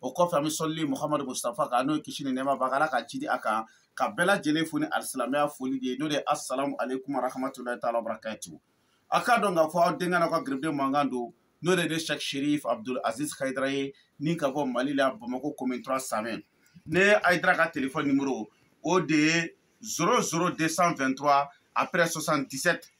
o kɔfɛ an bɛ sɔli muhamadu mustafa kan n'o ye kisi ni nɛɛma b'a kan ala ka jidi a kan ka bɛɛ lajɛlen fo ni alisilamɛya foli de ye n'o de ye asalamu aleykum warahamatulayi taala wabarakatu a k'a dɔn k'a fɔ aw denkɛ n'aw ka garibuden mankan don n'o de ye sɛk sherif abdul aziz hayidara ye ni ka bɔ mali la bamako commune 3 samɛ ne hayidara ka telefɔni nimoro o de ye 00 223 après 77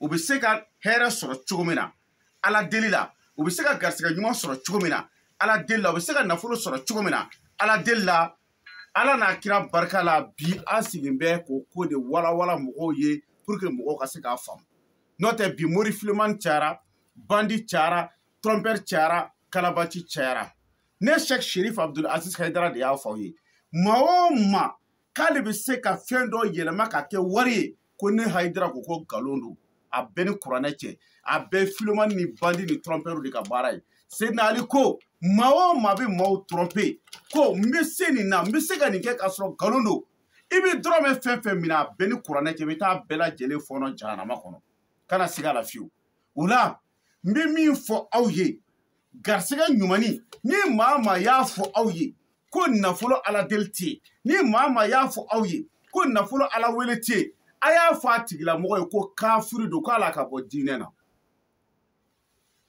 u bɛ se ka hɛrɛ sɔrɔ cogo min na ala deli la u bɛ se ka garisɛgɛ ɲuman sɔrɔ cogo min na ala deli la u bɛ se ka nafolo sɔrɔ cogo min na ala deli la ala n'a kira barika la bi an sigilen bɛ k'o ko de walawala mɔgɔw ye pour que mɔgɔw ka se k'a faamu n'o tɛ bi mori fileman cayara bandi cayara trɔmpɛri cayara kalabaci cayara ne sɛk sherif abdul aziz haidara de y'a fɔ aw ye maa o maa k'ale bɛ se ka fɛn dɔ yɛlɛma ka kɛ wari ye ko ne hayidara ko ko nkalon don a bɛ n ni kuranɛ cɛ a bɛɛ filomani ni bandi ni trɔmpɛriw de ka baara ye sedina ali ko maa o maa bɛ maaw trɔmpe ko n bɛ se nin na n bɛ se ka nin kɛ k'a sɔrɔ nkalon don i bɛ dɔrɔmɛ fɛn fɛn minɛ a bɛ n ni kuranɛ cɛ i bɛ taa bɛɛ lajɛlen fɔɔnɔ jahanama kɔnɔ kana siga a la fewu o la n bɛ min fɔ aw ye garisɛgɛ ɲumanni ni maa maa y'a fɔ aw ye ko nafolo ala deli tɛ yen ni maa maa y'a fɔ aw ye ko nafolo ala wele tɛ yen a y'a fɔ a tigilamɔgɔ ye ko kafiri don k'a la ka bɔ diinɛ na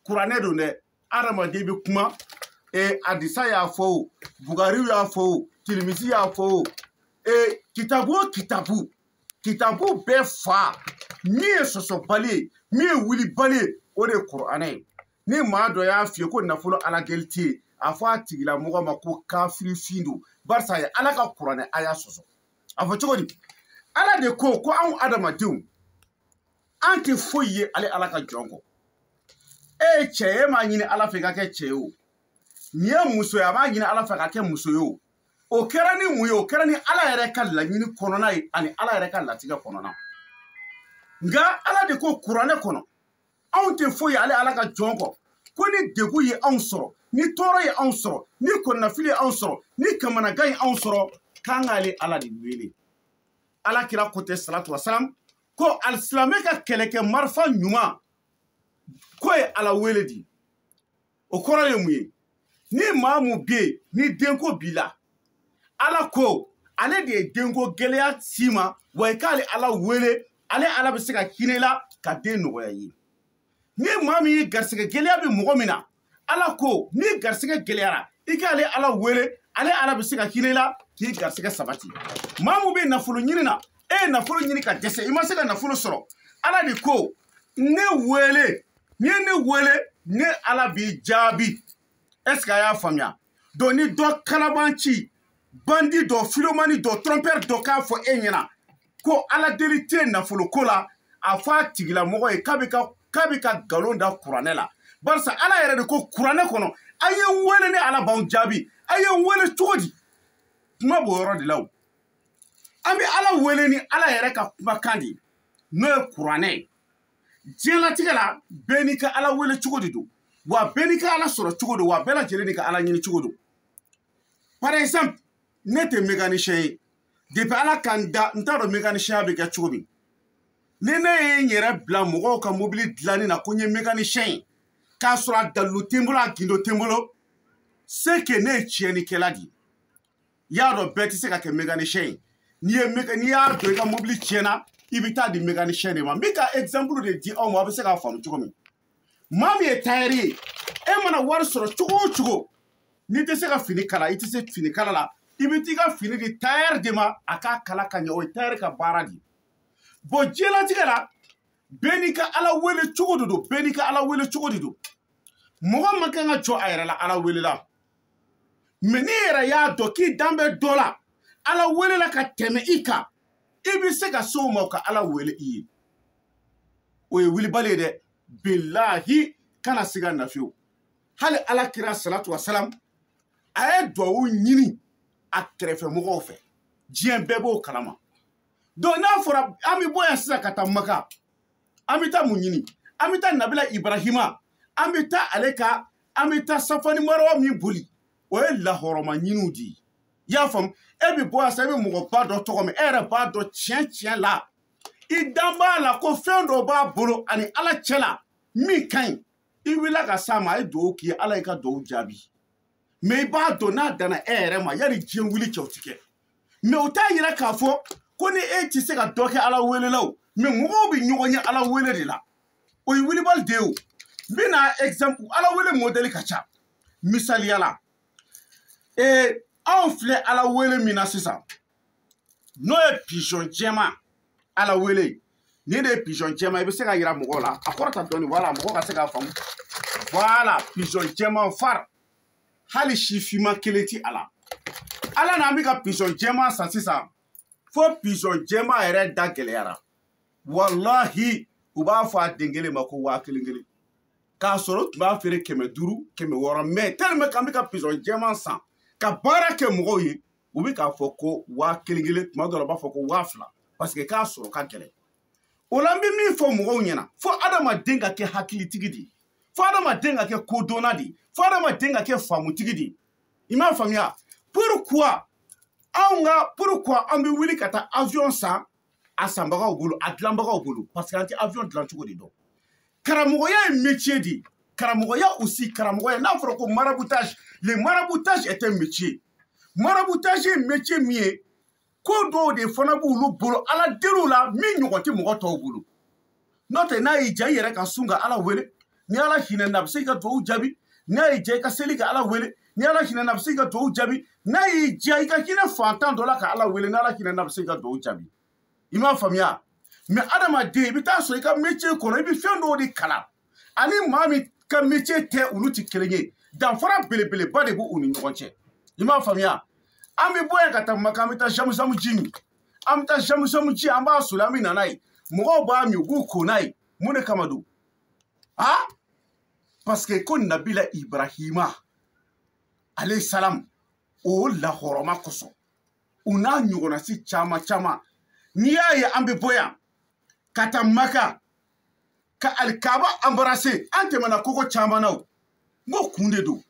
kuranɛ don dɛ adamaden bɛ kuma e, hadisa y'a fɔ o bukariyu y'a fɔ o tirimisi y'a fɔ o e, kitabu o kitabu kitabu bɛɛ fa min ye sɔsɔbali ye min ye wulibali ye o de ye kuranɛ ye ni maa dɔ y'a f'i ye ko nafolo ala deli tɛ yen a fɔ a tigilamɔgɔ ma ko kafirifin don barisa a ye ala ka kuranɛ a y'a sɔsɔ a fɔ cogo di ala de ko ko anw adamadenw an tɛ foyi ye ale ala ka jɔn kɔ e ye cɛ ye e m'a ɲini ala fɛ i ka kɛ cɛ ye o nin ye muso ye a m'a ɲini ala fɛ ka kɛ muso ye o o kɛra ni mun ye o kɛra ni ala yɛrɛ ka laɲini kɔnɔna ye ani ala yɛrɛ ka latigɛ kɔnɔna nka ala de ko kuranɛ kɔnɔ anw tɛ foyi ale ala ka jɔn kɔ ko ni degun ye anw sɔrɔ ni tɔɔrɔ ye anw sɔrɔ ni kɔnɔnafili ye anw sɔrɔ ni kamanagan ye anw sɔrɔ k'an k'ale ala de wele ala kira ko tɛ salatu wasalam ko alisilamɛ ka kɛlɛkɛ marifa ɲuman k'o ye ala wele de ye o kɔrɔ ye mun ye ni maa min bɛ yen ni denko b'i la ala ko ale de ye denko gɛlɛya s'i ma wa i k'ale ala wele ale ala bɛ se ka hinɛ i la ka den nɔgɔya i ye ni maa min ye garisɛgɛ gɛlɛya bɛ mɔgɔ min na ala ko n'i garisɛgɛ gɛlɛyara i k'ale ala wele ale ala bɛ se ka hinɛ i la k'i garisɛgɛ sabati maa min bɛ nafolo ɲini na e ye nafolo ɲini ka dɛsɛ i ma se ka nafolo sɔrɔ ala de ko ne wele n'i ye ne wele ne ala b'i jaabi est ce que a y'a faamuya donc ni dɔ kalabanci bandi dɔ filomani dɔ trompeur dɔ k'a fɔ e ɲɛna ko ala deli tɛ nafoloko la a fɔ a tigilamɔgɔ ye k'a bɛ ka k'a bɛ ka nkalon da kuranɛ la barisa ala yɛrɛ de ko kuranɛ kɔnɔ a ye n wele ne ala b'aw jaabi a ye n wele cogo di kuma b'o yɔrɔ de la o an bɛ ala wele ni ala yɛrɛ ka kumakan de ye n'o ye kuranɛ ye diɲɛlatigɛ la bɛɛ n'i ka ala wele cogo de don wa bɛɛ n'i ka ala sɔrɔ cogo don wa bɛɛ lajɛlen n'i ka ala ɲini cogo don par exemple ne tɛ mécanicien ye depuis ala ka n da n t'a dɔn mécanicinya bɛ kɛ cogo min ni ne ye n yɛrɛ bila mɔgɔw ka mobili dilanni na ko n ye mécanicien ye k'a sɔrɔ a dalilu tɛ n bolo a gindo tɛ n bolo c'est que ne ye tiɲɛnikɛla de ye i y'a dɔn bɛɛ tɛ se ka kɛ mécanicien ye n'i ye n'i y'a dɔn i ka mobili tiɲɛna i bɛ taa di mécanicien de ma n bɛ ka exemple de di aw ma aw bɛ se k'a faamu cogo min maa min ye tailleur ye e mana wari sɔrɔ cogo o cogo n'i tɛ se ka fini kala i tɛ se fini kala la i bɛ t'i ka fini di tailleur de ma a k'a kala ka ɲɛ o ye tailleur ka baara de ye bon diɲɛlatigɛ la bɛɛ n'i ka ala wele cogo de don bɛɛ n'i ka ala wele cogo de don mɔgɔ man kan ka jɔ a yɛrɛ la ala welela mais n'i yɛrɛ y'a dɔn k'i dan bɛ dɔ la ala wele la ka tɛmɛ i kan i bɛ se ka se o ma ka ala wele i ye o ye wilibali ye dɛ bilahi kana siga na fiyewu hali ala kira salatu wasalam a ye duwawu ɲini a kɛrɛfɛ mɔgɔw fɛ diɲɛ bɛɛ b'o kalama donc n'a fɔra an bɛ bɔ yan sisan ka taa maka an bɛ taa mun ɲini an bɛ taa nabila ibrahima an bɛ taa ale ka an bɛ taa safa ni marawa min boli o ye lahɔrɔma ɲiniw de ye i y'a faamu e bɛ bɔ yan sisan e bɛ mɔgɔba dɔ tɔgɔ mɛn e yɛrɛ b'a dɔn tiɲɛ tiɲɛ la i dan b'a la ko fɛn dɔ b'a bolo a ni ala cɛ la min ka ɲi i wulila ka s'a ma a ye dugawu k'i ye ala y'i ka dugawu jaabi mais i b'a dɔn n'a danna e yɛrɛ ma yan ni diɲɛ wuli cɛ o ti kɛ mais o t'a yira k'a fɔ ko ni e tɛ se ka dɔ kɛ ala wele la o mais mɔgɔw bɛ ɲɔgɔn ɲɛ ala wele de la o ye wilibali de ye o n bɛna exemple ala wele mɔdɛli ka ca misaliya la ee anw filɛ ala wele min na sisan n'o ye pizɔn jɛma ala wele nin de ye pizɔn jɛma i bɛ se k'a yira mɔgɔw la a kɔrɔta dɔɔni wala mɔgɔ ka se k'a faamu voilà pizɔn jɛma fari hali si finman kelen ti a la ala n'an bɛ ka pizɔn jɛman san sisan fo pizɔn jɛman yɛrɛ da gɛlɛyara walahi u b'a fɔ a den kelen ma ko waa kelen kelen k'a sɔrɔ u tun b'a feere kɛmɛ duuru kɛmɛ wɔɔrɔ mais tellement k'an bɛ ka pizɔn jɛman san ka baara kɛ mɔgɔw ye u bɛ k'a fɔ ko waa kelen kelen tuma dɔ la u b'a fɔ ko waa fila parce que k'a sɔrɔ ka gɛlɛn o la n bɛ min fɔ mɔgɔw ɲɛna fo adamaden ka kɛ hakilitigi de ye fo adamaden ka kɛ kodɔnna de ye fo adamaden ka kɛ faamutigi de ye i m'a faamuya pourquoi anw ka pourquoi an bɛ wuli ka taa avion san a sanbagaw bolo a dilanbagaw bolo parce que an tɛ avion dilan cogo de dɔn karamɔgɔya ye métier de ye karamɔgɔya aussi karamɔgɔya n'a fɔra ko maraboutage le maraboutage est un métier maraboutage ye métier min ye ko dɔw de fana b'olu bolo ala deliw la min ɲɔgɔn tɛ mɔgɔ tɔw bolo n'o tɛ n'a y'i ja i yɛrɛ ka sun ka ala wele ni ala hinɛna a bɛ se k'i ka dugawu jaabi n'a y'i ja i ka seli ka ala wele ni ala hinɛna a bɛ se k'i ka dugawu jaabi n'a y'i ja i ka hinɛ faantan dɔ la ka ala wele ni ala hinɛna a bɛ se k'i ka dugawu jaabi i m'a faamuya mais adamaden i bɛ t'a sɔrɔ i ka métier kɔnɔ i bɛ fɛn dɔw de kalan ani maa min ka métier tɛ olu tɛ kelen ye danfara belebeleba de b'u ni ɲɔgɔn cɛ i m'a faamuya an bɛ bɔ yan ka taa maka an bɛ taa jamujamu ji min an bɛ taa jamujamu ji an b'a soli an bɛ na n'a ye mɔgɔw b'a min u b'u ko n'a ye mun de kama don a parce que ko nabila ibrahima aleyi salamu o la hɔrɔma kosɔn o n'a ɲɔgɔnna si caman caman n'i y'a ye an bɛ bɔ yan ka taa maka ka alikaba embrasser an tɛmɛna kogo caman na o n ko kun de don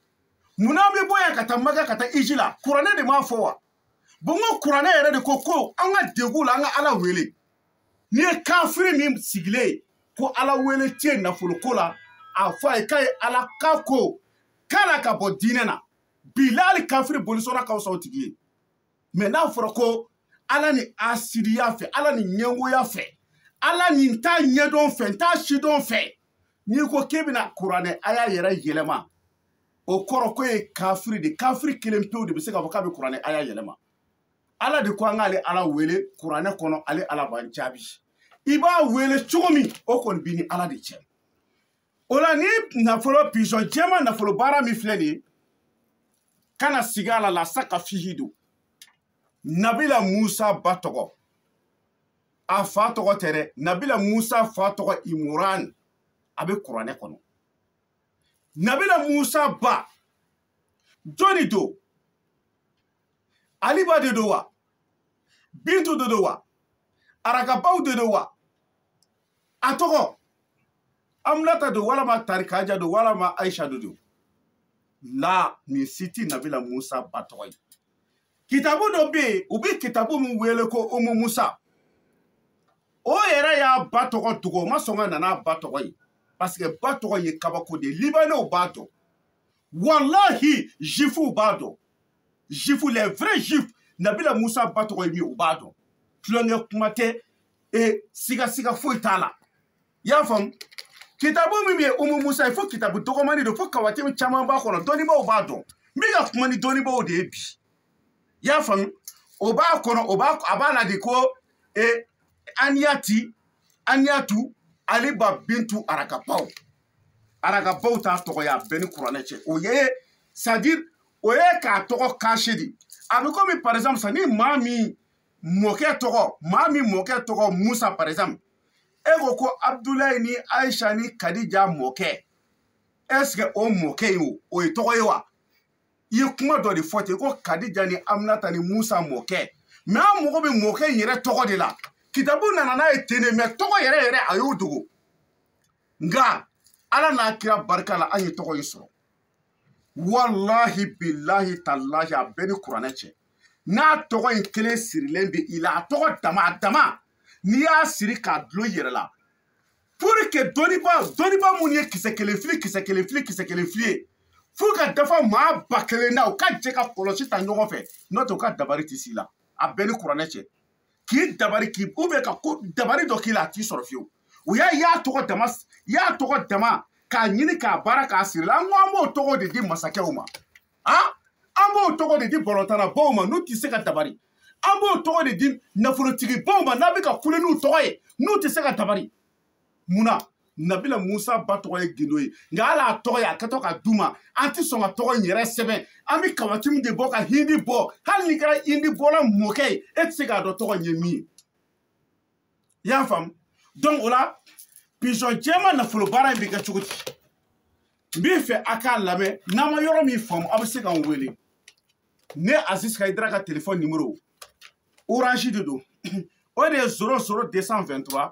mun na an bɛ bɔ yan ka taa maka ka taa hiji la kuranɛ de m'a fɔ wa bon n ko kuranɛ yɛrɛ de ko ko an ka degun la an ka ala wele n'i ye kafiri min sigilen ye ko ala wele tɛ nafoloko la a fɔ a ye k'a ye ala ka ko k'a la ka bɔ diinɛ na bilahi kafiri bolisɔnna ka fisa o tigi ye mais n'a fɔra ko ala ni hasidiya fɛ ala ni ɲɛngoya fɛ ala ni n t'a ɲɛdɔn fɛ n t'a sidɔn fɛ n'i ko k'e bɛna kuranɛ aya yɛrɛ yɛlɛma o kɔrɔ k'o ye kafiri de kafiri kelen pewu de bɛ se k'a fɔ k'a bɛ kuranɛ aya yɛlɛma ala de ko an k'ale ala wele kuranɛ kɔnɔ ale ala b'an jaabi i b'a wele cogo min o kɔni b'i ni ala de cɛ o la ni nafolo pizɔn jɛma nafolo baara min filɛ nin ye kana siga a la la saka fihi don nabila musa ba tɔgɔ a fa tɔgɔ tɛ dɛ nabila musa fa tɔgɔ imuran a bɛ kuranɛ kɔnɔ nabila musa ba jɔni don aliba de don wa bintu de don wa arakabaw de don wa a tɔgɔ aminata don walama tarikaja don walama aisha do don la nin si tɛ nabila musa ba tɔgɔ ye kitabu dɔ bɛ yen u bɛ kitabu min wele ko umu musa o yɛrɛ y'a ba tɔgɔ dogo o ma sɔn ka na n'a ba tɔgɔ ye parce que ba tɔgɔ ye kabako de ye libanɛw b'a dɔn walahi jifuw b'a dɔn jifu les vrais juifs nabila musa ba tɔgɔ ye min ye u b'a dɔn tulonkɛ kuma tɛ e siga siga foyi t'a la i y'a faamu kitabu min bɛ yen umu musa ye fo kitabu dɔgɔmani don fo kawatimu caman b'a kɔnɔ dɔnnibaaw b'a dɔn n bɛ ka kuma ni dɔnnibaaw de ye bi i y'a faamu o b'a kɔnɔ o b'a a b'a la de ko e aniyati aniyatu ale ba bintu arakabaw arakabaw t'a tɔgɔ ye a bɛ n ni kuranɛ cɛ o ye c'est à dire o ye k'a tɔgɔ cacher de a bɛ komi par exemple sa ni maa min mɔkɛ tɔgɔ maa min mɔkɛ tɔgɔ musa par exemple e ko ko abdulayi ni aisha ni kadija mɔkɛ est ce que o mɔkɛ ye o o ye tɔgɔ ye wa i ye kuma dɔ de fɔ ten ko kadija ni aminata ni musa mɔkɛ mais an mago bɛ mɔkɛ in yɛrɛ tɔgɔ de la kitabu nana n'a ye ten de mais tɔgɔ yɛrɛ yɛrɛ a y'o dogo nka ala n'a kira barika la an ye tɔgɔ in sɔrɔ walahi bilahi talahi a bɛ n ni kuranɛ cɛ n'a tɔgɔ in kelen sirilen bɛ i la a tɔgɔ dama a dama n'i y'a siri k'a dulon i yɛrɛ la pour que dɔnniba dɔnniba minnu ye kisɛ kelen fili kisɛ kelen fili kisɛ kelen fili ye fo ka dafa maa ba kelen na u ka jɛ ka kɔlɔsi ta ɲɔgɔn fɛ n'o tɛ u ka dabari tɛ s'i la a bɛ n ni kuranɛ cɛ k'i dabari k'u bɛ ka ko dabari dɔ k'i la a t'i sɔrɔ fewu u y'a y'a tɔgɔ dama y'a tɔgɔ dama k'a ɲini k'a baara k'a siri i la an ko an b'o tɔgɔ de di masakɛw ma han an b'o tɔgɔ de di balɔntannabaw ma n'u tɛ se ka dabari an b'o tɔgɔ de di nafolotigibaw ma n'a bɛ ka kule n'u tɔgɔ ye n'u tɛ se ka dabari mun na nabila musa ba tɔgɔ ye gundo ye nka hali a tɔgɔ ye an kɛtɔ k'a d'u ma an tɛ sɔn ka tɔgɔ in yɛrɛ sɛbɛn an bɛ kawatimu de bɔ ka hindi bɔ hali n'i kɛra hindi bɔla mɔkɛ ye e tɛ se k'a dɔn tɔgɔ in ye min ye i y'a faamu donc o la pizɔn jɛman nafolo baara in bɛ kɛ cogo di n b'i fɛ a k'a lamɛn n'aw ma yɔrɔ min faamu aw bɛ se k'an wele ne aziz kayidara ka telefɔni nimoro orange de don o de ye zoro zoro 223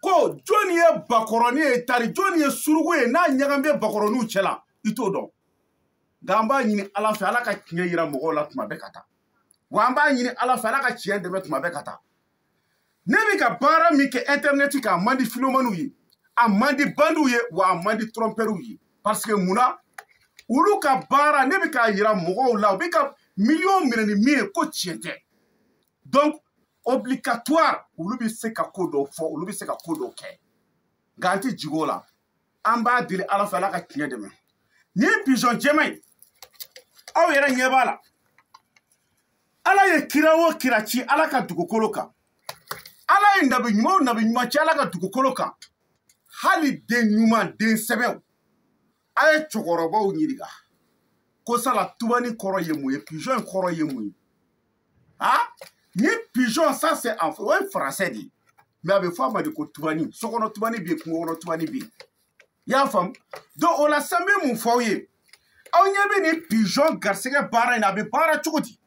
ko jɔnni ye bakɔrɔni ye tari jɔnni ye suruku ye n'a ɲagami bɛ bakɔrɔniw cɛ la i t'o dɔn nka an b'a ɲini ala fɛ ala ka tiɲɛ yira mɔgɔw la tuma bɛɛ ka taa wa an b'a ɲini ala fɛ ala ka tiɲɛ dɛmɛ tuma bɛɛ ka taa ne bɛ ka baara min kɛ intɛrinɛti kan a man di filomaniw ye a man di bandiw ye wa a man di tɔrɔmpɛriw ye parce que mun na olu ka baara ne bɛ k'a yira mɔgɔw la u bɛ ka miliyɔn minɛ ni min ye ko tiɲɛ tɛ donc obligatoire olu bɛ se ka ko dɔw fɔ olu bɛ se ka ko dɔw kɛ nka an tɛ jigi o la an b'a deli ala fɛ ala ka tiɲɛ dɛmɛ nin ye pizɔn jɛman ye aw yɛrɛ ɲɛ b'a la ala ye kira o kira ci ala ka dugukolo kan ala ye nabi ɲuman o nabi ɲuman ci ala ka dugukolo kan hali den ɲuman den sɛbɛw a ye cɛkɔrɔbaw ɲininka ko sala tubani kɔrɔ ye mun ye pigeon kɔrɔ ye mun ye a ni pigeon ça c'est en o ye français de ye mais a bɛ fɔ a ma de ko tubani sokɔnɔ tubani bɛ yen kungo kɔnɔ tubani bɛ yen i y'a faamu donc o la sisan n bɛ mun fɔ aw ye aw ɲɛ bɛ nin pigeon garisɛgɛ baara in na a bɛ baara cogo di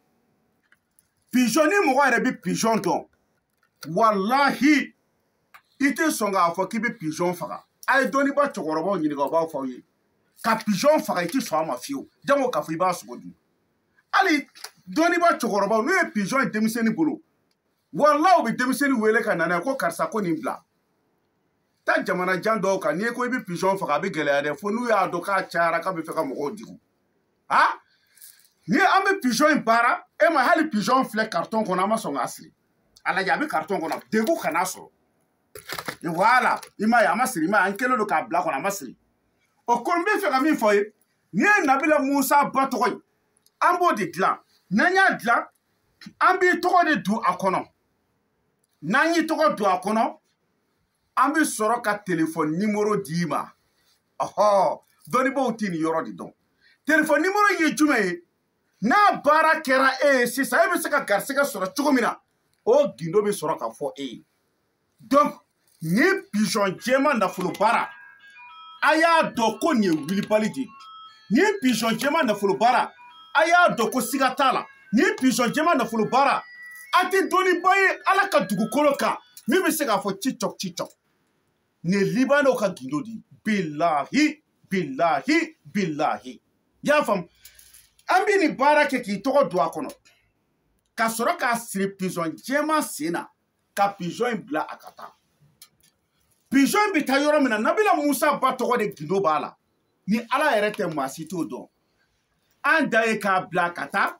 pizɔn ni mɔgɔ yɛrɛ bɛ pizɔn dɔn walahi i tɛ sɔn k'a fɔ k'i bɛ pizɔn faga a ye dɔnnibaa cɛkɔrɔbaw ɲininka u b'a fɔ aw ye ka pizɔn faga i tɛ sɔn a ma fiyewu jango k'a fɔ i b'a sogo dun hali dɔnnibaa cɛkɔrɔbaw n'u ye pizɔn ye denmisɛnnin bolo wala u bɛ denmisɛnnin wele ka na n'a ye ko karisa ko nin bila taa jamana jan dɔw kan n'i ye ko i bɛ pizɔn faga a bɛ gɛlɛya dɛ fo n'u y'a dɔn k'a cayara k'a bɛ fɛ ka mɔgɔw degun a ni an bɛ pizɔn in baara e ma hali pizɔn filɛ karitɔn kɔnɔ an ma sɔn k'a siri a lajɛ a bɛ karitɔn kɔnɔ degun kana a sɔrɔ wala i m'a ye a ma siri i m'a ye an kɛlen don k'a bila kɔnɔ a ma siri o ko n bɛ fɛ ka min fɔ i ye n'i ye nabila musa ba tɔgɔ ye an b'o de dilan n'an y'a dilan an b'i tɔgɔ de don a kɔnɔ n'an y'i tɔgɔ don a kɔnɔ an bɛ sɔrɔ ka telefɔni nimoro d'i ma ɔhɔ dɔnnibaaw tɛ nin yɔrɔ de dɔn telefɔni nimoro ye jumɛn ye n'a baara kɛra e ye sisan e bɛ se ka garisigɛ sɔrɔ cogo min na o gindo bɛ sɔrɔ ka fɔ e ye donc nin pizɔn jɛma nafolo baara a y'a dɔn ko nin ye wulibali de ye nin pizɔn jɛma nafolo baara a y'a dɔn ko siga t'a la nin pizɔn jɛma nafolo baara a tɛ dɔnnibaa ye ala ka dugukolo kan min bɛ se k'a fɔ cicɔk cicɔk nin ye libanɛw ka gindo de ye bilahi bilahi bilahi y'a faamu an bɛ nin baara kɛ k'i tɔgɔ don a kɔnɔ ka sɔrɔ k'a siri pizɔn jɛman sen na ka pizɔn in bila a ka taa pizɔn in bɛ taa yɔrɔ min na nabila musa ba tɔgɔ de gindo b'a la ni ala yɛrɛ tɛ maa si t'o dɔn an dan ye k'a bila a ka taa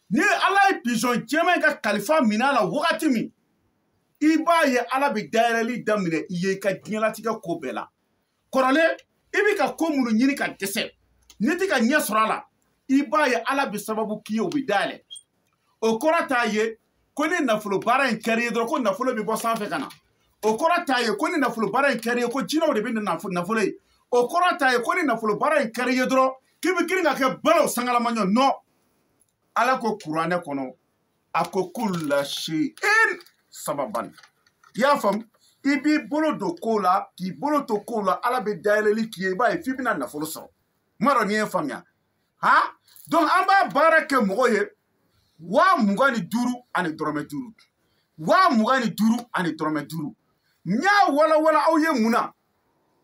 ni ala ye pizɔn jɛman in ka kalifa minɛ a la wagati min i b'a ye ala bɛ dayɛlɛli daminɛ i ye i ka diɲɛlatigɛ ko bɛɛ la kɔrɔlen i bɛ ka ko minnu ɲini ka dɛsɛ n'i tɛ ka ɲɛ sɔrɔ a la i b'a ye ala bɛ sababu k'i ye o bɛ dayɛlɛ o kɔrɔ t'a ye ko ni nafolo baara in kɛr'i ye dɔrɔn ko nafolo bɛ bɔ sanfɛ ka na o kɔrɔ t'a ye ko ni nafolo baara in kɛr'i ye ko jinɛw de bɛ na nafolo ye o kɔrɔ t'a ye ko ni nafolo baara in kɛr'i ye dɔrɔn k'i bɛ girin ka kɛ balo sangalamaɲɔ non ala ko kuranɛ kɔnɔ a ko kula seyin sababan i y'a faamu i b'i bolo don kow la k'i bolo to kow la ala bɛ dayɛlɛli k'i ye i b'a ye f'i bɛna nafolo sɔrɔ n m'a dɔn n'i y'a faamuya han donc an b'a baara kɛ mɔgɔ ye waa mugan ni duuru ani dɔrɔmɛ duuru waa mugan ni duuru ani dɔrɔmɛ duuru n y'a walawala aw ye mun na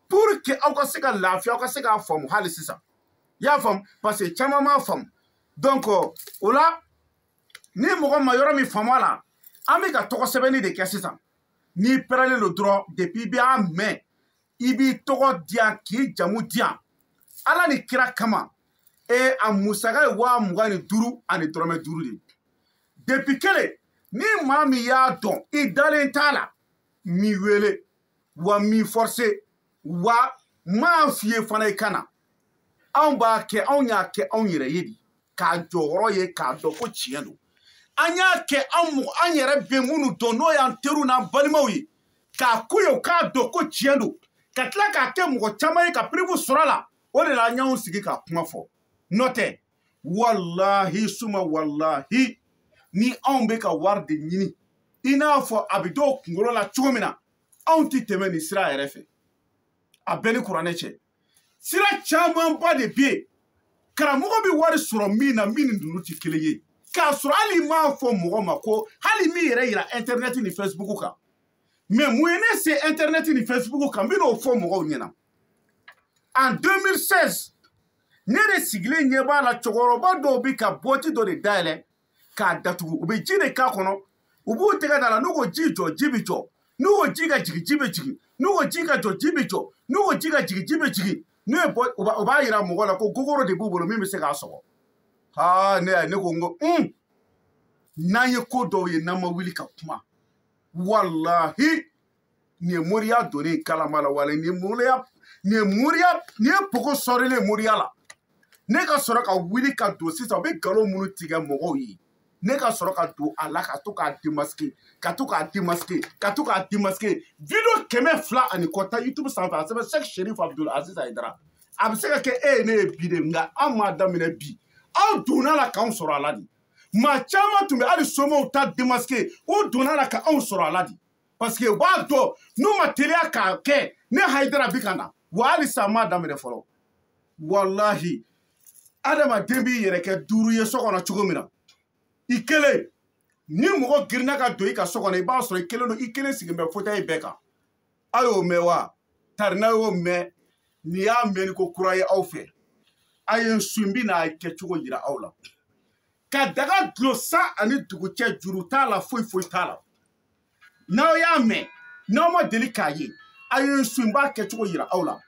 pour que aw ka se ka lafiya aw ka se k'a faamu hali sisan i y'a faamu parce que caman m'a faamu donc o la ni mɔgɔ ma yɔrɔ min faamu a la an bɛ ka tɔgɔ sɛbɛnni de kɛ sisan n'i pɛrɛlen don dɔrɔn depuis i bɛ a mɛn i b'i tɔgɔ di yan k'i jamu di yan ala ni kira kama e a musaka ye waa mugan ni duuru ani dɔrɔmɛ duuru de ye depi kelen ni maa min y'a dɔn i dalen t'a la n m'i wele wa n m'i fɔrse wa n m'a f'i ye fana i ka na anw b'a kɛ anw y'a kɛ anw yɛrɛ ye de k'a jɔyɔrɔ ye k'a dɔn ko tiɲɛ don an y'a kɛ an mɔgɔ an yɛrɛ bɛ minnu dɔn n'o y'an teriw n'an balimaw ye k'a ko ye u k'a dɔn ko tiɲɛ don ka tila k'a kɛ mɔgɔ caman ye ka preuve sɔrɔ a la o de la an y'anw sigi k'a kuma fɔ n'o tɛ walahi suma walahi ni anw bɛ ka wari de ɲini i n'a fɔ a bɛ dɔw kunkolo la cogo min na anw tɛ tɛmɛ nin sira yɛrɛ fɛ a bɛ n ni kuranɛ cɛ sira camanba de bɛ yen karamɔgɔ bɛ wari sɔrɔ min na min ni ninnu tɛ kelen ye k'a sɔrɔ hali n m'a fɔ mɔgɔ ma ko hali n ma n yɛrɛ yira intɛrinɛti ni fɛsibuku kan mais mun ye ne se intɛrinɛti ni fɛsibuku kan n bɛn'o fɔ mɔgɔw ɲɛna en 2016 ne de sigilen ɲɛ b'a la cɛkɔrɔba dɔw bɛ ka bɔti dɔ de dayɛlɛ k'a datugu u bɛ ji de k'a kɔnɔ u b'u tɛgɛ d'a la n'u ko ji jɔ ji bɛ jɔ n'u ko ji ka jigin ji bɛ jigin n'u ko ji ka jɔ ji bɛ jɔ n'u ko ji ka jigin ji bɛ jigin n'u ye bɔ u b'a yira mɔgɔ la ko gogoro de b'u bolo min bɛ se k'a sɔgɔ haa ne y'a ne ko n ko un n'an ye ko dɔw ye n'an ma wuli ka kuma walahi nin ye moriya donnen kalama la wale nin ye moriya nin ye moriya nin ye pogo sɔrilen ye moriya la ne ka sɔrɔ ka wuli ka don sisan u bɛ nkalon minnu tigɛ mɔgɔw ye ne ka sɔrɔ ka don a la ka to k'a demaske ka to k'a demaske ka to k'a demaske video kɛmɛ fila ani kɔ ta youtube sanfɛ a sɛbɛn sɛk sherif abdul aziz hayidara a bɛ se ka kɛ e ye ne ye bi de nka an m'a daminɛ bi aw donna a la k'anw sɔrɔ a la de maa caman tun bɛ hali somaw ta demaske u donna a la ka anw sɔrɔ a la de parce que u b'a dɔn n'u ma teliya k'a kɛ ne hayidara bɛ ka na wa halisa n m'a daminɛ fɔlɔ walahi adamaden b'i yɛrɛ kɛ duuru ye so kɔnɔ cogo min na i kelen ni mɔgɔ girinna ka don i ka so kɔnɔ i b'a sɔrɔ i kelen don i kelen sigilen bɛ fauteuil bɛɛ kan a y'o mɛn wa tarina y'o mɛn nin y'a mɛnni ko kura ye aw fɛ a ye n su n bɛna a kɛcogo yira aw la ka daga dulon san ani dugu cɛ juru t'a la foyi foyi t'a la n'aw y'a mɛn n'aw ma deli k'a ye a ye n suivi n b'a kɛcogo yira aw la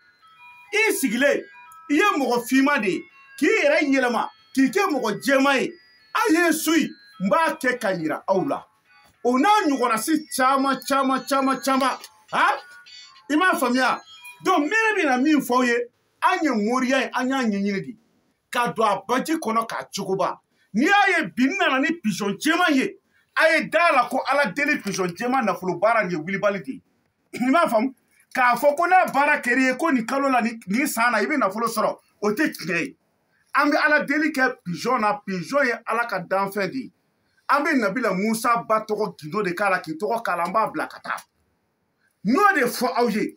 i sigilen i ye mɔgɔ finman de ye k'i yɛrɛ yɛlɛma k'i kɛ mɔgɔ jɛman ye a ye n suivi n b'a kɛ ka yira aw la o n'a ɲɔgɔnna si caman caman caman caman ha i m'a faamuya donc n bɛna min fɔ aw ye an ye moriya ye an y'a ɲɛɲini de ka don a baji kɔnɔ k'a cogoba n'i y'a ye bi n nana ni pizɔn jɛman ye a ye da a la ko ala deli pizɔn jɛman nafolo baara nin ye wulibali de ye i m'a faamu k'a fɔ ko n'a baara kɛr'i ye ko nin kalo la nin san na i bɛ nafolo sɔrɔ o tɛ tiɲɛ ye an bɛ ala deli kɛ pizɔn na pizɔn ye ala ka danfɛn de ye an bɛ nabila musa ba tɔgɔ gundo de k'a la k'i tɔgɔ k'a la an b'a bila ka taa n'o de fɔ aw ye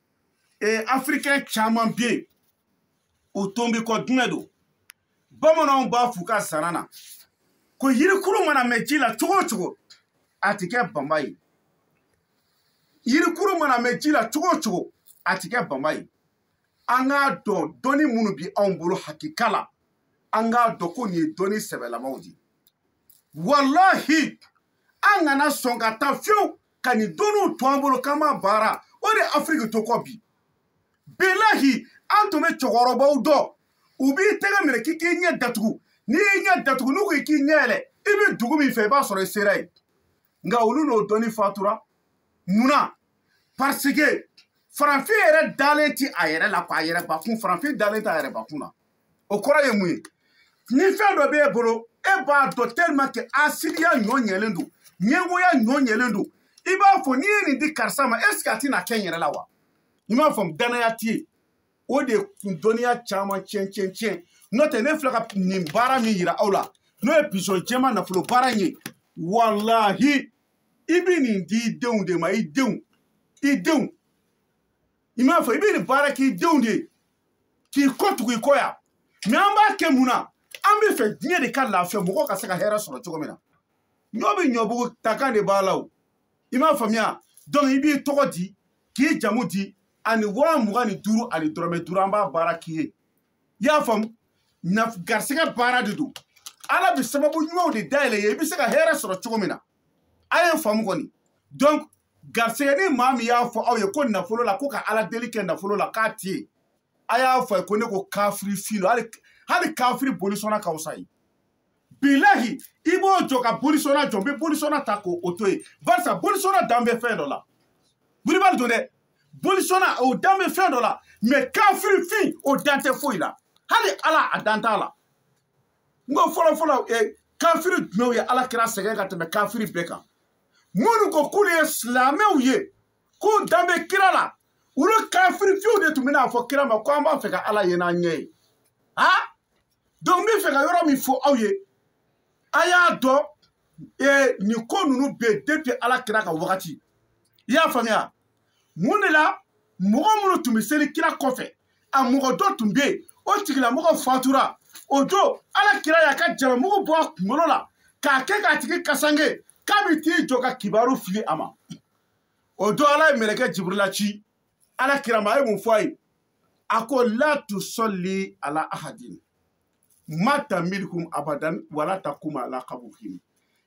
ee afirikɛn caman bɛ yen o tonbi kɔ dingɛ don bamananw b'a f'u ka zana na ko yirikuru mana mɛn ji la cogo o cogo a ti kɛ banba ye yirikuru mana mɛn ji la cogo o cogo a ti kɛ banba ye an k'a dɔn dɔnni minnu bi anw bolo hakika la an k'a dɔn ko nin ye dɔnni sɛbɛlamaw de ye walahi an kana sɔn ka taa fewu ka nin dɔnniw to an bolo k'an m'a baara o de ye afiriki to kɔ bi bilahi an tun bɛ cɛkɔrɔbaw dɔn u b'i tɛgɛ minɛ k'i k'i ɲɛ datugu n'i y'i ɲɛ datugu n'u ko i k'i ɲɛ yɛlɛ i bɛ dugu min fɛ i b'a sɔrɔ i sera yen nka olu n'o dɔnni fatura munna parce que farafin yɛrɛ dalen ti a yɛrɛ la k'a yɛrɛ bakun farafin dalen t'a yɛrɛ bakun na o kɔrɔ ye mun ye ni fɛn dɔ b'e bolo e b'a dɔn tellement que hasidiya bonyalen don ɲɛngoya bonyalen don i b'a fɔ n'i ye nin di karisa ma est ce que a tɛna kɛ n yɛrɛ la wa i m'a faamu dannaya t'i ye o de kun dɔnniya caman tiɲɛ tiɲɛ tiɲɛ n'o tɛ ne filɛ ka nin baara min yira aw la n'o ye pizɔn jɛman nafolo baara in ye walahi i bɛ nin di i denw de ma i denw i denw i m'a fɔ i bɛ nin baara k'i denw de ye k'i kɔ tugu i kɔ yan mɛ an b'a kɛ mun na an bɛ fɛ diɲɛ de ka lafiya mɔgɔw ka se ka hɛrɛ sɔrɔ cogo min na ɲɔ bɛ ɲɔbugu takan de b'a la o i m'a faamuya donc i b'i tɔgɔ di k'i jamu di ani waa mugan ni duuru ani dɔrɔmɛ duuru an b'a baara k'i ye i y'a faamu garisɛgɛ baara de don ala bɛ sababu ɲumanw de dayɛlɛ i ye i bɛ se ka hɛrɛ sɔrɔ cogo min na a y'a faamu kɔni donc garisɛgɛ ni maa min y'a fɔ aw ye ko nafolo la ko ka ala deli kɛ nafolo la k'a ti ɲɛ a y'a fɔ o ye ko ne ko kafiri fin lo hali kafiri bolisɔnna ka fisa a ye bilahi i b'o jɔ ka bolisɔnna jɔ n bɛ bolisɔnna ta k'o o to yen barisa bolisɔnna dan bɛ fɛn dɔ la wulibali don dɛ bolisɔnna o dan bɛ fɛn dɔ la mɛ kafiri fin o dan tɛ foyi la hali ala a dan t'a la n ko fɔlɔfɔlɔ kafiri jumɛnw ye ala kira sɛgɛn ka tɛmɛ kafiri bɛɛ kan minnu ko k'olu ye silamɛw ye k'u dan bɛ kira la olu kafiri fiyew de tun bɛ n'a fɔ kira ma ko an b'a fɛ ka ala ye n'an ɲɛ ye a donc n b'a fɛ ka yɔrɔ min fɔ aw ye a y'a dɔn nin ko ninnu bɛ yen depuis ala kira ka wagati i y'a faamuya mun de la mɔgɔ minnu tun bɛ seli kira kɔfɛ a mɔgɔ dɔ tun bɛ yen o tigilamɔgɔ fatura o don ala kira y'a ka jalamugu bɔ a kunkolo la k'a kɛ k'a tigi kasanke k'a bɛ t'i jɔ ka kibaru fili a ma o don ala ye mɛlɛkɛ jiburila ci ala kira ma a ye mun fɔ a ye a ko la tusɔli ala ahadin mata minhum abadan wala takuma ala kabuhim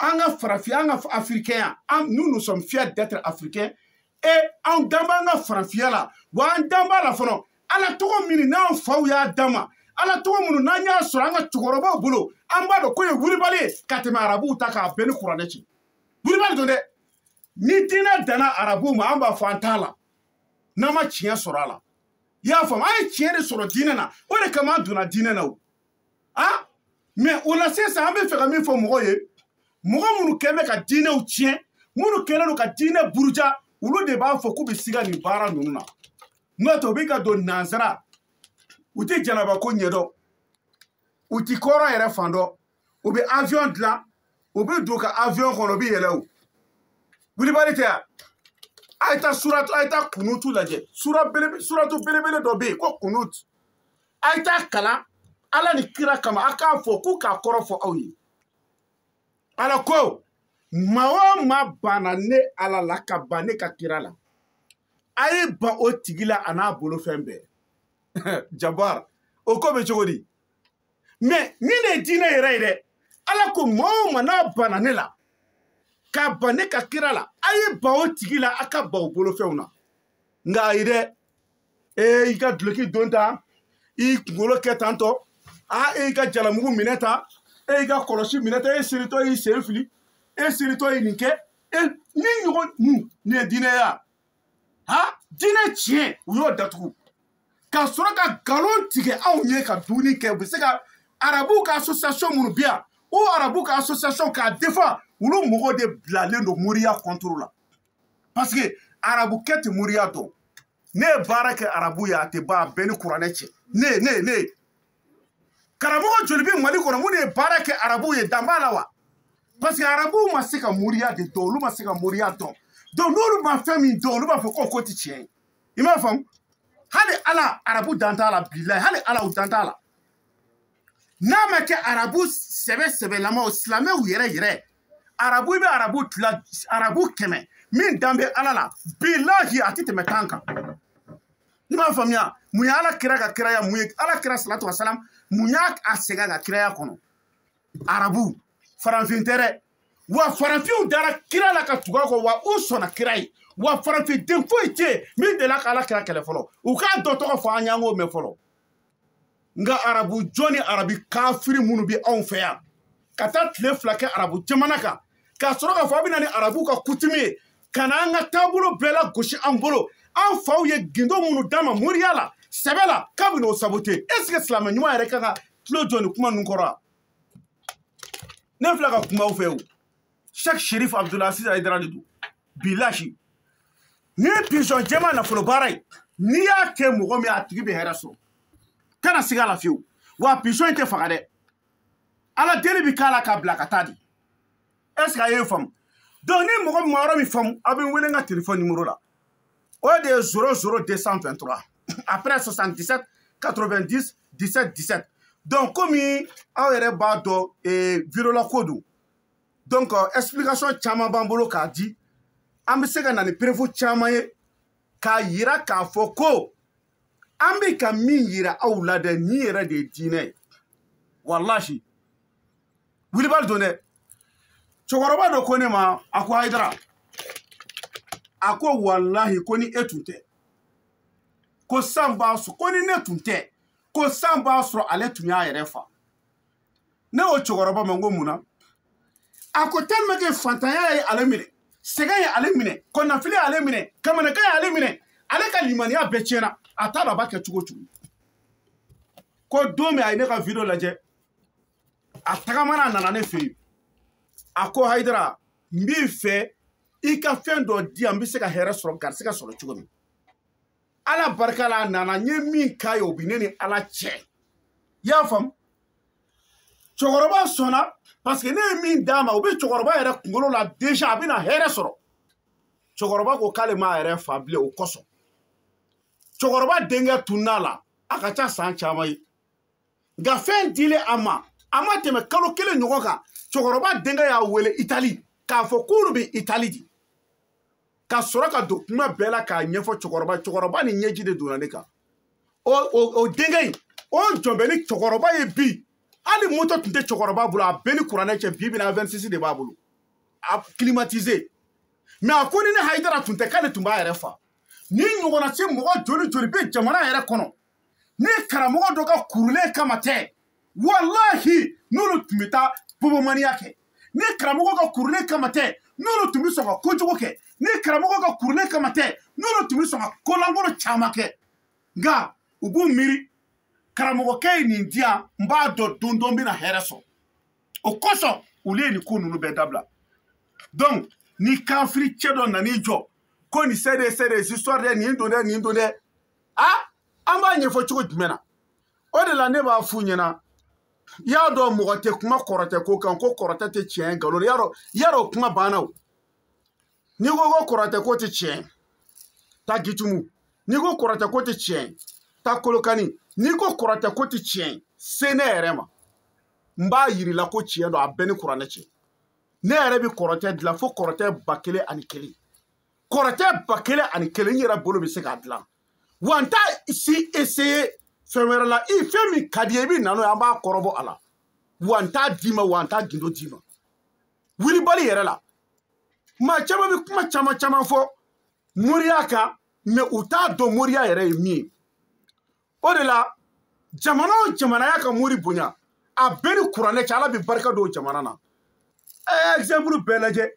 an ka farafinya an ka afirikɛnya nous nous sommes fiers d'être africains et an dan b'an ka farafinya la wa an dan b'a la fana ala tɔgɔ minnu n'an faw y'a d'an ma ala tɔgɔ minnu n'an y'a sɔrɔ an ka cɛkɔrɔbaw bolo an b'a dɔn k'o ye wulibali ye ka tɛmɛ arabuw ta k'a bɛ n ni kuranɛ cɛ wulibali don dɛ ni diinɛ danna arabuw ma an b'a fɔ an t'a la n'an ma tiɲɛ sɔrɔ a la i y'a faamu an ye tiɲɛ de sɔrɔ diinɛ na o de kama an donna diinɛ na o a mɛ o la sisan an b'a fɛ ka min fɔ mɔgɔw ye mɔgɔ minnu kɛn bɛ ka diinɛw tiɲɛ minnu kɛlen don ka diinɛ buruja olu de b'a fɔ k'u bɛ siga nin baara ninnu na n'o tɛ u bɛ k'a dɔn nansaraw tɛ janaba ko ɲɛ dɔn u ti kɔrɔn yɛrɛ fan dɔn u bɛ avion dilan u bɛ don ka avion kɔnɔ u bɛ yɛlɛn o wulibali tɛ yan a ye taa suratu a ye taa kunutu lajɛ sura belebe suratu belebele dɔ bɛ yen ko kunutu a ye t'a kalan ala ni kira kama a k'a fɔ k'u k'a kɔrɔ fɔ aw ye ala ko maa o maa banna ne ala la ka ban ne ka kira la a ye ban o tigi la a n'a bolofɛn bɛɛ jabar o ko bɛ cogo di mais nin de ye diinɛ yɛrɛ ye dɛ ala ko maa o maa n'a banna ne la ka ban ne ka kira la a ye ban o tigi la a ka ban o bolofɛnw na nka ayi dɛ ee i ka duloki don tan i kunkolo kɛ tantɔ a e y'i ka jalamugu minɛ tan e y'i ka kɔlɔsi minɛ tan e seritɔ y'i sen fili e seritɔ ye nin kɛ e nin ɲɔgɔn nin nin ye diinɛ ye a ha diinɛ tiɲɛ u y'o datugu ka sɔrɔ ka nkalon tigɛ anw ye ka dumuni kɛ u bɛ se ka arabuw ka association minnu bɛ yan o arabuw ka association k'a defan olu mɔgɔw de bilalen don moriya contre la parce que arabukɛ tɛ moriya dɔn ne ye baara kɛ arabu ye a tɛ ban a bɛ n ni kuranɛ cɛ ne ye ne ye ne ye karamɔgɔ joli bɛ mali kɔnɔ minnu ye baara kɛ arabu ye dan b'a la wa parce que arabuw ma se ka moriya de dɔn olu ma se ka moriya dɔn donc n'olu ma fɛn min dɔn olu b'a fɔ ko k'o tɛ tiɲɛ ye i m'a faamu hali ala arabu dan t'a la bilayi hali ala u dan t'a la n'a ma kɛ arabu sɛbɛ sɛbɛlamaw silamɛw yɛrɛ yɛrɛ arabu i bɛ arabu ta arabu kɛmɛ min dan bɛ ala la bilahi a tɛ tɛmɛ tan kan i b'a faamuya mun ye ala kira ka kiraya mun ye ala kira salatu wa salam mun y'a a sɛgɛn a ka kiraya kɔnɔ arabu farafin tɛ dɛ wa farafinw dara kira la ka tugu a kɔ wa u sɔnna kira ye wa farafin den foyi tɛ yen min delila ka ala kira kɛlɛ fɔlɔ u k'a dɔ tɔgɔ fɔ an y'an k'o mɛn fɔlɔ nka arabu jɔn ni arabi kafiri minnu bɛ anw fɛ yan ka taa tile fila kɛ arabu jamana kan ka sɔrɔ k'a fɔ a bɛ na ni arabu ka coutume ye ka na an ka taabolo bɛɛ lagosi an bolo an faw ye gundo minnu d'an ma moriya la sɛbɛ la k'a bɛ n'o sabote est ce que silamɛ ɲuman yɛrɛ ka kan ka tulo jɔ nin kuma ninnu kɔrɔ wa ne filɛ ka kuma aw fɛ o Sheikh Sherif Abdulaziz Haidara de don bilahi nin pizɔn jɛman nafolo baara ye n'i y'a kɛ mɔgɔ min a tigi bɛ hɛrɛ sɔrɔ kana siga a la fiyewu wa pizɔn in tɛ faga dɛ ala deli bɛ k'a la k'a bila ka taa dɛ est ce que a y'a faamu donc ni mɔgɔ min ma yɔrɔ min faamu aw bɛ n wele n ka telefɔni nimoro la o de ye zéro zéro 223 après 77 90 17 17 donc komi aw yɛrɛ b'a dɔn eh, video la ko don donc euh, explication caman b'an bolo k'a di an bɛ se ka na ni preuve caman ye k'a yira k'a fɔ ko an bɛ ka min yira aw la dɛ nin yɛrɛ de ye diinɛ ye walahi wilibali don dɛ cɛkɔrɔba dɔ ko ne ma a ko hayidara a ko walahi ko ni e tun tɛ ko san b'a sɔrɔ ko ni ne tun tɛ ko san b'a sɔrɔ ale tun y'a yɛrɛ fa ne ko cɛkɔrɔba ma n ko mun na a ko tellement que fantanya ye ale minɛ sɛgɛn ye ale minɛ kɔnɔnafili ye ale minɛ kamanagan ye ale minɛ ale ka limaniya bɛɛ tiɲɛna a t'a dɔn a b'a kɛ cogo cogo ko don min a ye ne ka video lajɛ a tagamana a nana ne fɛ yen a ko hayidara n b'i fɛ i ka fɛn dɔ di yan n bɛ se ka hɛrɛ sɔrɔ garisɛgɛ sɔrɔ cogo min ala barika la a nana n ye min k'a ye o bi ne ni ala cɛ i y'a faamu cɛkɔrɔba sɔnna paseke ne ye min d'a ma o bɛ cɛkɔrɔba yɛrɛ kunkolo la deja a bɛna hɛrɛ sɔrɔ cɛkɔrɔba ko k'ale m'a yɛrɛ fa bilen o kosɔn cɛkɔrɔba denkɛ tunna a la a ka ca san caman ye nka fɛn dilen a ma a ma tɛmɛ kalo kelen ɲɔgɔn kan cɛkɔrɔba denkɛ y'a wele itali k'a fɔ k'olu bɛ itali dɛ ka sɔrɔ ka don kuma bɛɛ la k'a ɲɛfɔ cɛkɔrɔba cɛkɔrɔba ni ɲɛji de donna ne kan o o o denkɛ in o jɔlen bɛ ni cɛkɔrɔba ye bi hali moto tun tɛ cɛkɔrɔba bolo a bɛ n ni kuranɛ cɛ bi bi in na Avensis de b'a bolo a climatisé même a ko ni ne hayidara tun tɛ k'ale tun b'a yɛrɛ fa nin ɲɔgɔnna si mɔgɔ joli joli bɛ jamana yɛrɛ kɔnɔ ni karamɔgɔ dɔ ka kurulen kama tɛ walahi n'olu tun bɛ taa bobomaniya kɛ ni karamɔgɔ ka kurulen kama tɛ n'olu tun bɛ sɔn ka kojugu kɛ ni karamɔgɔ ka kurulen kama tɛ n'olu tun bɛ sɔn ka kolankolo caman kɛ nka u b'u miiri karamɔgɔkɛ ye nin diya n b'a dɔn don dɔ n bɛna hɛrɛ sɔrɔ o kosɔn olu ye nin ko ninnu bɛɛ dabila donc ni kafiri cɛ dɔ nan'i jɔ ko nin c'est des c'est des histoires dɛ nin don dɛ nin don dɛ a an b'a ɲɛfɔ cogo jumɛn na o de la ne b'a f'u ɲɛna i y'a dɔn mɔgɔ tɛ kuma kɔrɔtɛ ko kan ko kɔrɔtɛ tɛ tiɲɛ nkalon y'a dɔn i y'a dɔn kuma banna o n'i ko ko kɔrɔtɛ ko tɛ tiɲɛ taa gitumu n'i ko kɔrɔtɛ ko tɛ tiɲɛ taa kolokani n'i ko kɔrɔtɛ ko tɛ tiɲɛ se ne yɛrɛ ma n b'a yir'i la ko tiɲɛ don a bɛ n ni kuranɛ cɛ ne yɛrɛ bɛ kɔrɔtɛ dilan fo kɔrɔtɛ ba kelen ani kelen kɔrɔtɛ ba kelen ani kelen ne yɛrɛ bolo bɛ se k'a dilan wa n t'a si essayer fɛn wɛrɛ la i fɛn min ka d'i ye i bɛ na n'o ye an b'a kɔrɔbɔ a la wa n t'a d'i ma wa n t'a gindo d'i ma wulibali yɛrɛ la maa caman bɛ kuma caman caman fɔ moriya kan mais u t'a dɔn moriya yɛrɛ ye min ye o de la jamana o jamana y'a ka mori bonya a bɛ n ni kuranɛ cɛ ala bɛ barika don jamana na ɛɛ ɛgizanpulu bɛɛ lajɛ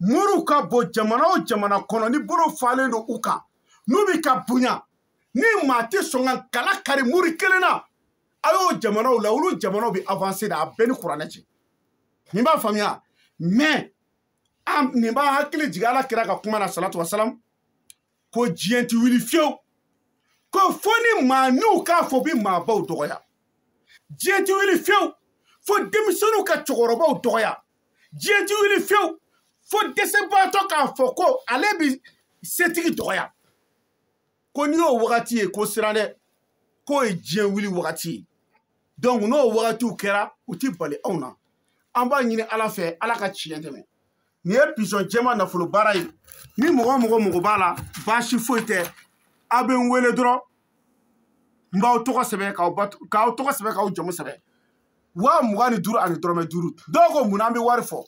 moriw ka bon jamana o jamana kɔnɔ ni bolo falen don u kan n'u bɛ ka bonya ni maa tɛ sɔn ka kala kari mori kelen na a y'o jamanaw la olu jamanaw bɛ avanse de a bɛ n ni kuranɛ cɛ nin b'a faamuya mais ne b'aw hakili jigin ala kira ka kuma na salatu wasalam ko diɲɛ ti wuli fiyewu ko fo ni maaninw k'a fɔ bi maabaw dɔgɔya diɲɛ ti wuli fiyewu fo denmisɛnninw ka cɛkɔrɔbaw dɔgɔya diɲɛ ti wuli fiyewu fo dɛsɛbaatɔ k'a fɔ ko ale bi setigi dɔgɔya ko n'i y'o wagati ye ko siran dɛ k'o ye diɲɛ wuli wagati ye donc n'o wagatiw kɛra u ti bali anw na an b'a ɲini ala fɛ ala ka tiɲɛ dɛmɛ nin ye pigeon jɛma nafolo baara ye ni mɔgɔ o mɔgɔ mago b'a la baasi foyi tɛ aw bɛ n wele dɔrɔn n b'aw tɔgɔ sɛbɛn k'aw tɔgɔ sɛbɛn k'aw jamu sɛbɛn waa mugan ni duuru ani dɔrɔmɛ duuru dɔw ko mun na an bɛ wari fɔ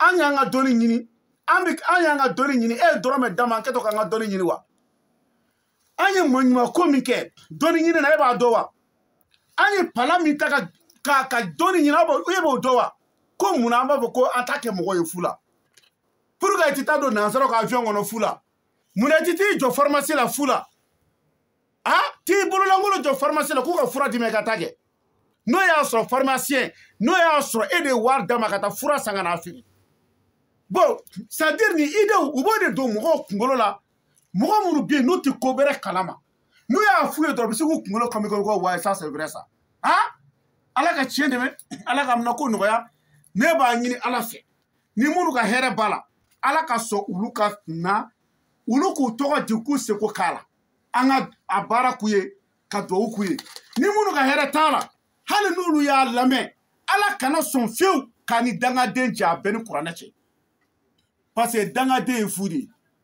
an y'an ka dɔnni ɲini an bɛ an y'an ka dɔnni ɲini e ye dɔrɔmɛ d'an ma an kɛtɔ k'an ka dɔnni ɲini wa an ye maɲuman ko min kɛ dɔnni ɲini na e b'a dɔn wa an ye pala min ta ka ka ka dɔnni ɲini aw b'o e b'o dɔn wa ko mun na an b'a fɔ ko an t'a kɛ mɔgɔ ye fu la pourquoi i ti taa don nansaraw ka avion kɔnɔ fu la mun na i ti t'i jɔ farimasi la fu la a t'i bololankolon jɔ farimasi la k'u ka fura d'i ma i ka t'a kɛ n'o y'a sɔrɔ farimasiɲɛ n'o y'a sɔrɔ e de ye wari d'a ma ka taa fura san ka n'a feere bon c'est-à-dire nin idew u b'o de don mɔgɔw kunkolo la mɔgɔ minnu bɛ yen n'u tɛ ko bɛrɛ kalama n'u y'a f'u ye dɔrɔn u bɛ se k'u kunkolo kɔmi kɔmi ko wayi ça c'est vrai ça han ala ka tiɲɛ dɛmɛ ala k'a minɛko nɔgɔya ne b'a ɲini ala fɛ ni minnu ka hɛrɛ b'a la ala ka sɔn olu ka na olu k'u tɔgɔ di k'u seko k'a la an ka a baara k'u ye ka duwawu k'u ye ni minnu ka hɛrɛ t'a la hali n'olu y'a lamɛn ala kana sɔn fiyewu k'a ni dangaden jɛ a bɛɛ ni kuranɛ cɛ parce que dangaden ye fu de ye